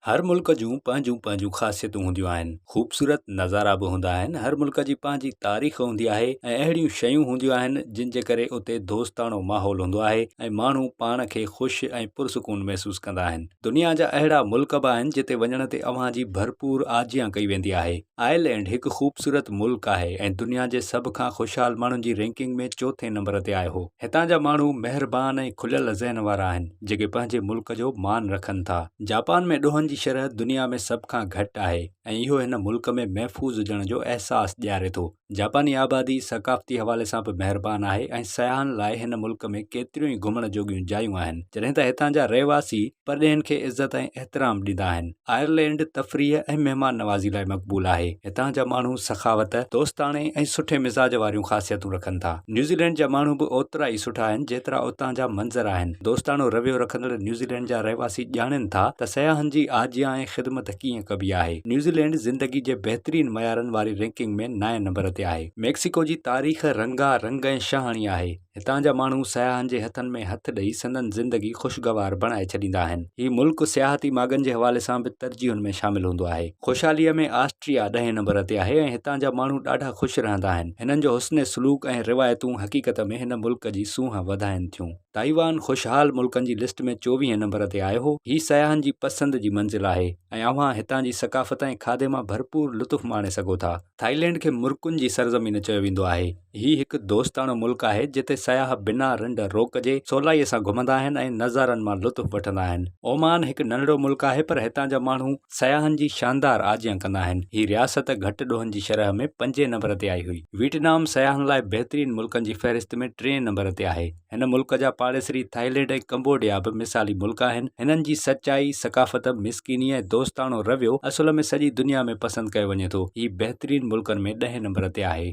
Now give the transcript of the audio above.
هر ملڪ جون پنهنجون پنهنجون خاصيتون هونديون آهن خوبصورت نظارا به هوندا آهن هر ملڪ جي پنهنجي تاريخ هوندي آهي ۽ اهڙيون شيون هونديون آهن جن جي ڪري اتي دوستاڻو ماحول هوندو آهي ۽ ماڻهو پاڻ کي خوش ۽ پرسڪون محسوس ڪندا آهن دنيا جا اهڙا ملڪ به آهن جتي وڃڻ تي اوهان جي ڀرپور آجيان ڪئي ويندي آهي. آئرلينڊ هڪ خوبصورت ملڪ آهي ۽ دنيا جي سڀ کان خوشحال ماڻهن جي رينڪنگ ۾ چوٿين نمبر تي آيو هو. هتان جا ماڻهو مهربان ۽ کليل ذهن وارا آهن، جيڪي پنهنجي ملڪ جو مان رکن ٿا. جاپان ۾ ڏوهن جي شرح دنيا ۾ سڀ کان گهٽ آهي ۽ اهو هن ملڪ ۾ محفوظ هجڻ جو احساس ڏياري ٿو. جاپاني آبادي ثقافتي حوالي سان به مهربان آهي ۽ سياحن لاء هن ملڪ ۾ ڪيتريون ئي گهمڻ جوڳيون جايون آهن جڏهن ته هتان جا رهواسي پرڏيهين کي عزت ۽ احترام ڏيندا آهن. آئرلينڊ تفريح ۽ مهمان نوازي لاء مقبول آهي. هتان جا ماڻهو سخاوت، دوستاڻي ۽ سٺي مزاج واريون خاصيتون رکن ٿا. نيوزيلينڊ جا ماڻهو به اوترا ئي سٺا آهن جيترا اتان جا منظر آهن. دوستاڻو رويو رکندڙ نيوزيلينڊ جا رهواسي ڄاڻين ٿا ته سياحن جي آجيان ۽ خدمت ڪيئن ڪبي آهي. نيوزيلينڊ زندگي جي بهترين معيارن واري رينڪنگ ۾ نائين نمبر تي آهي. ميڪسيڪو جي تاريخ رنگا رنگ ۽ شاهاڻي آهي. هتان جا ماڻهو سياحن جي هٿن ۾ هٿ ڏئي سندن زندگي خوشگوار بڻائي ڇڏيندا آهن. هي ملڪ سياحتي ماڳن جي حوالي سان به ترجيحن ۾ شامل هوندو آهي. خوشحاليء ۾ آسٽريا ڏهين نمبر تي آهي ۽ هتان جا ماڻهو ڏاڍا خوش رهندا آهن. هنن جو حسن سلوڪ ۽ روايتون حقيقت ۾ هن ملڪ جي سونهن وڌائين ٿيون. تائيوان خوشحال ملڪن جي لسٽ ۾ چوويهين نمبر تي آيو. هي سياحن جي پسند جي منزل آهي ۽ اوهان هتان جي ثقافت ۽ کاڌي مان ڀرپور لطف ماڻي سگهو ٿا. ٿائلينڊ کي مرڪن جي سرزمين چيو ويندو آهي. هي هڪ دوستاڻو ملڪ آهي جتي سياح بنا رنڊ روڪ جي سولائيء سان گهمندا آهن ۽ نظارن مان لطف وٺندا آهن. اومان هڪ ننڍڙو ملڪ آهي پر هتان جا ماڻهو سياحن جي شاندار آجيان ڪندا آهن. هي رياست گهٽ ڏوهن جي شرح ۾ پنجين نمبر تي آئي هئي. ويٽنام سياحن لاء بهترين ملڪن جي فهرست ۾ ٽئين نمبر تي آهي. هن ملڪ جا پاڙيسري ٿائلينڊ ۽ ڪمبوڊيا به مثالي ملڪ آهن. هنن جي سچائي، ثقافت، مسڪيني ۽ دوستاڻو رويو اصل ۾ سڄي دنيا ۾ پسند ڪيو وڃي ٿو. هي بهترين ملڪن ۾ ڏهين نمبر تي آهي.